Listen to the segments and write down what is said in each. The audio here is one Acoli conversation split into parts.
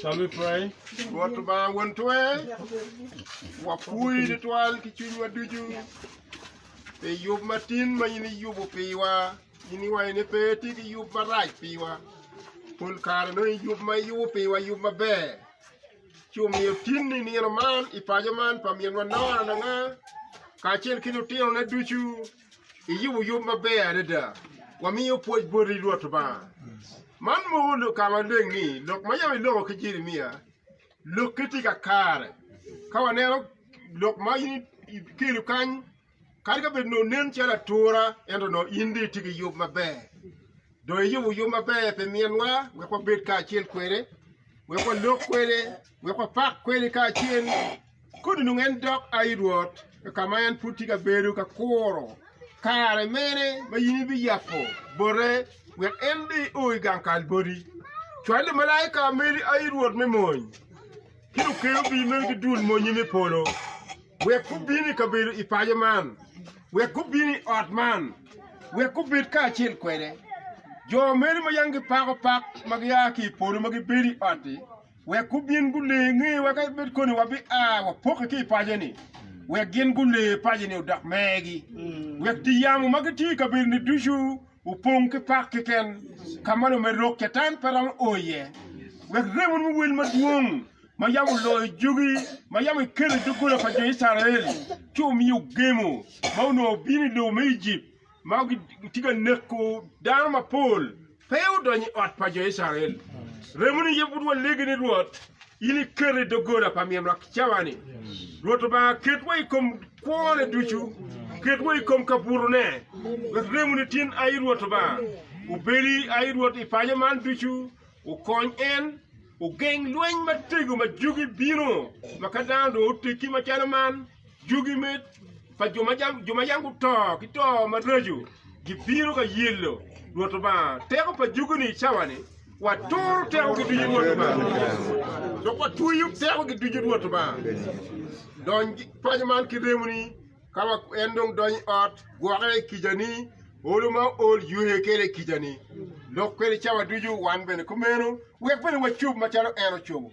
Shall we pray? Rwot Lubanga Won Twer, wapwoyi tutwal ki cwinywa ducu pi yub matin ma in iyubo piwa. In iwaco ni pe itye ki yub marac piwa. Pol kare nongo yub ma iyubo piwa yub maber. Ci omiyo tinni nino man i paco man pa minwa Nora Langa kacel ki lutinone ducu Iyubo yub maber adada. Wamiyo pwoc boti Rwot Lubanga. Man moko lok ka maleng ni lok ma yam iloko ki Jeremia lokke tye kakare. Ka waneno lok ma in ikelo kany kadi ka bed nongo nen calo atura ento nongo in dong itye ki yub maber. Dong eyubo yub maber pi minwa wek wabed kacel kwede, wek walok kwede, wek wapak kwede kacel. Kodi onongo en dok a i Rwot ka ma en pud tye ka bedo ka kuro. Kare mene ma in ibiyabo bote wek en bene o i gang kal boti? Cwal lumalaika meri a i Rwot me mony. ki lukerubi meno ki dul monnye me polo, wek gubin i kabedo i paco man, wek gubin i ot man, wek gubed kacel kwede. Jo meno ma yam gipako pak ma gia ki i polo ma gibedo i ot-ti, wek gubin gule nge wa ka bed koni wabia wapokke ki i paco-ni, wek gin gule paco-ni odok megi, wek dye yamo ma gitye i kabedo-ni ducu Opong ki pak keken, ka ma lumed lok Catan pe romo o iye. Wek remoni muwil madwong ma yam oloyo jogi ma yam ikelo i doggola pa jo Icrael, ci omiyo gemo ma onongo obino i lobo me Ejipt ma gitye ka neko dano mapol pe odonyo i ot pa jo Icrael. Remoni aye pud walegi ni Rwot. In iketo i doggola pa min lwak cawani. Rwot Lubanga, ketwa i kom kwone ducu, ketwa i kom kabutone, wek remoni tin ayi Rwot Lubanga. Obedi ayi Rwot i paco man ducu, okony en, ogeng lweny matego ma jugi bino, ma ka dano dong oteggi macalo man, Jugi me pa jo ma yam guto ki to maraco gibino ka yelo Rwot Lubanga teko pa jugi-ni i cawani, waturo tekogi ducu i Rwot Lubanga, dok watweyo tekogi ducu i Rwot Lubanga. Dony paco man ki remoni, ka en dong donyo i ot, gwoke i kicani, olo ma ool ywe kwede i kicani, lok kwede cawa ducu, wan bene kumeno, wek bene wacob macalo en ocobo.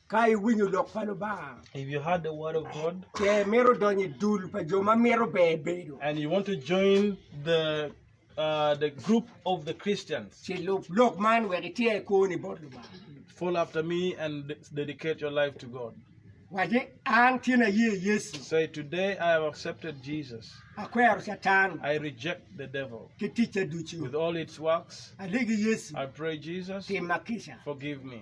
Ka iwinyo lok pa Lubanga. If you heard the word of God. Ce imito donyo i dul pa jo ma mito ber bedo. And you want to join the uh, the group of the Christians. Ce lub lok man wek iter i koni bot Lubanga. Follow after me and dedicate your life to God. Waje an tyen aye Yesu. Say today I have accepted Jesus. Akwero Satan. I reject the devil. Ki ticce ducu. With all its works. Alegi Yesu. I pray Jesus. Timma kica. Forgive me.